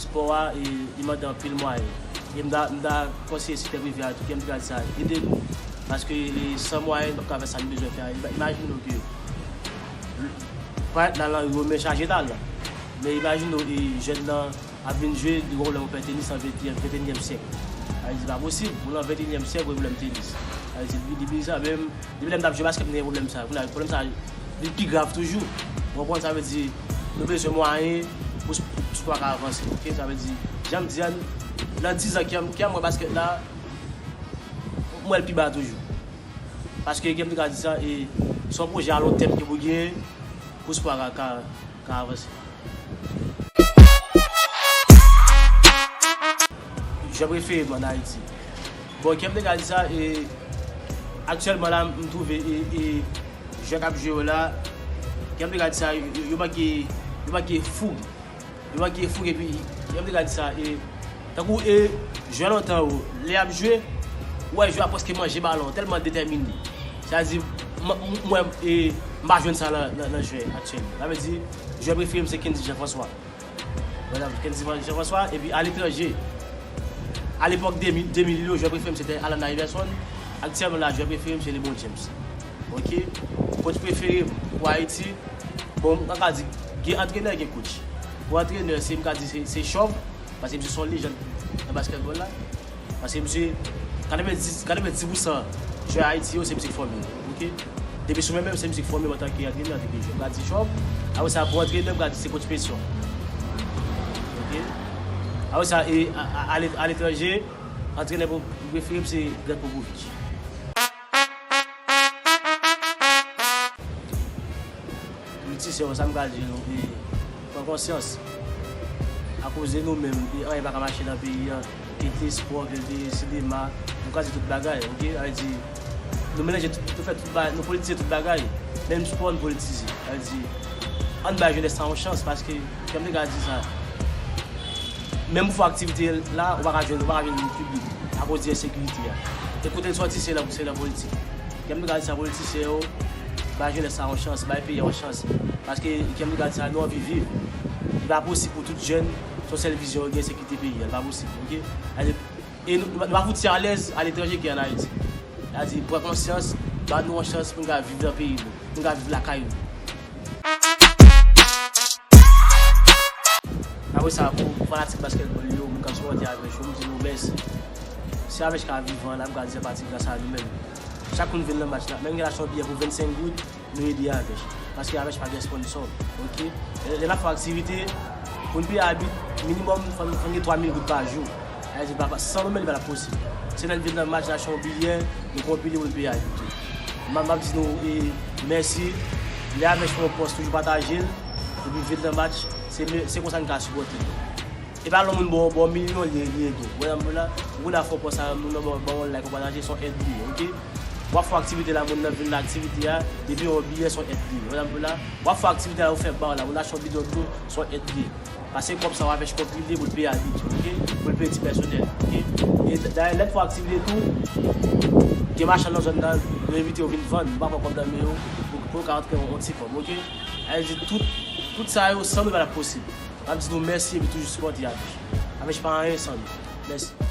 Spò a li mande anpil mwayen e m ta m ta konseye sektè prive a tou kèm t ka di sa ede nou paske san mwayen nou pap ka fè sa nou bezwen fè a imajine w ke paret nan lari yo men chaje talan men imajine w jèn nan ap vin jwe li wè yon pè tenis nan ventenyèm syèk sa vle di se pa posib ou nan ventenyèm syèk ou wè yon pè tenis sa vle di li bizar menm Depi lè m t ap jwe baskèt m te gen pwoblèm sa. Kounye a pwoblèm sa vin pi grav toujou. Ou konprann? Sa vle di nou bezwen mwayen pou spò a ka avanse ok. Sa vle di jan m di an nan dizan kè m kè m wè baskèt la m wè l pi ba toujou. Paske kè m te ka di sa e s on pwojè alontèm ki pou genyen pou spò a ka ka. ka avanse. Jan preferem an Ayiti. Bon kem te gad sa e aktyelman la m twouve e jwè kap jwe yo la kem te gad sa yo manke yo manke foug yo manke foug epi kem te gad sa e Tankou e jwè lontan yo, lè y ap jwe, ou wè jwè a prèske manje balon, tèlman detèmine. Sa vle di, m wè e m pa jwenn sa nan jwè aktyèl yo. Sa vle di, jwè prefere m se Kendy Jean François. Mwen ap di Kendy Jean François, epi aletranje, alepòk 2000 yo, jwè prefere m se te Allan Iverson, aktyèlman la, jwè prefere m se Lebron James. Ok? Coach prefere m pou Ayiti, bon, m ka di, gen antrenè, gen coach. Pou antrenè, se m ka di se Chòv. Paske misye son lejand nan basketball la. Paske misye 90 pou san jwè Ayiti yo se misye ki fòme yo. Ok. Depi sou men menm se misye ki fòme yo antanke antrenè, antanke jwè. M ka di Job, apre sa pou antrenè m ka di se coach Petion. Ok. Apre sa e a letranje, antrenè prefere m se Greg Popovich. Politisyen yo, sa m ka di nou e pran konsyans. Akoze nou menm e anyen pa ka mache nan peyi an. E te espò, e te sinema, nou kraze tout bagay ok. Sa vle di nou melanje tout, nou fè tout bagay, nou politize tout bagay. Menm spò nou politize. Sa vle di ann bay jenès sa yon chans paske. Janm te ka di sa. Menm pou fè aktivite la, ou pa ka jwenn, ou pa ka vin piblik akoz di ensekirite a. E kote l sòti se nan politik. Janm te ka di sa politisyen yo, bay jenès la yon chans, bay peyi a yon chans. Paske janm te ka di sa nou anvi viv. Li pa posib pou tout jèn se yon sèl vizyon yo gen se kite peyi a. Li pa posib ok. E nou pa fouti alèz aletranje ki an Ayiti. Sa vle di pran konsyans, ban nou yon chans pou nou ka viv nan peyi nou, pou nou ka viv lakay nou. Apre sa pou fanatik basketball yo, mwen ka sipòte avèch yo, m di nou mèsi. Si avèch ka vivan la, m ka di se pati gras a nou menm. Chak moun vin nan match la, menm gen achat yon biyè pou 25 goud, nou ede avèch. Paske avèch pa gen sponsor. Ok. Lè n ap fè aktivite, pou n peye abit, minimòm fò n gen 3000 goud pa jou. Ayiti pa ka san Lomel pa posib. Se lè n vin nan match la chon biyè nou pran pili moun piyay pito. Map map di nou mèsi lè avè chon yon pòs toujou patajel epi vin nan match se konsa n ka sipòte nou. E pa lò moun ba w milyon li ede w. Wè sa m di w la? Ou konn a fè yon pòs avè m moun nan ba w ba w yon like yon pataje son èd li ye ok. Wap fè yon aktivite la moun nan vin nan aktivite a depi yon biyè son èd li ye. Wè sa m di w la? Wap fè yon aktivite la yo fè ba w la moun nan achte yon bidon dlo son èd li ye. Pase kob sa wap HPET li vle poul peye abit yo ok poul peye ti pèsonèl yo ok e dayè lèt fwa aktivite tou gen machann nan zòn nan yo envite yo vin vann yo pa pran kob nan men yo pou yo ka rantre yon ti kob ok avle di tout tout sa yo san nou patap posib map di nou mèsi epi toujou sipòte avle avle pa anyen san nou mèsi.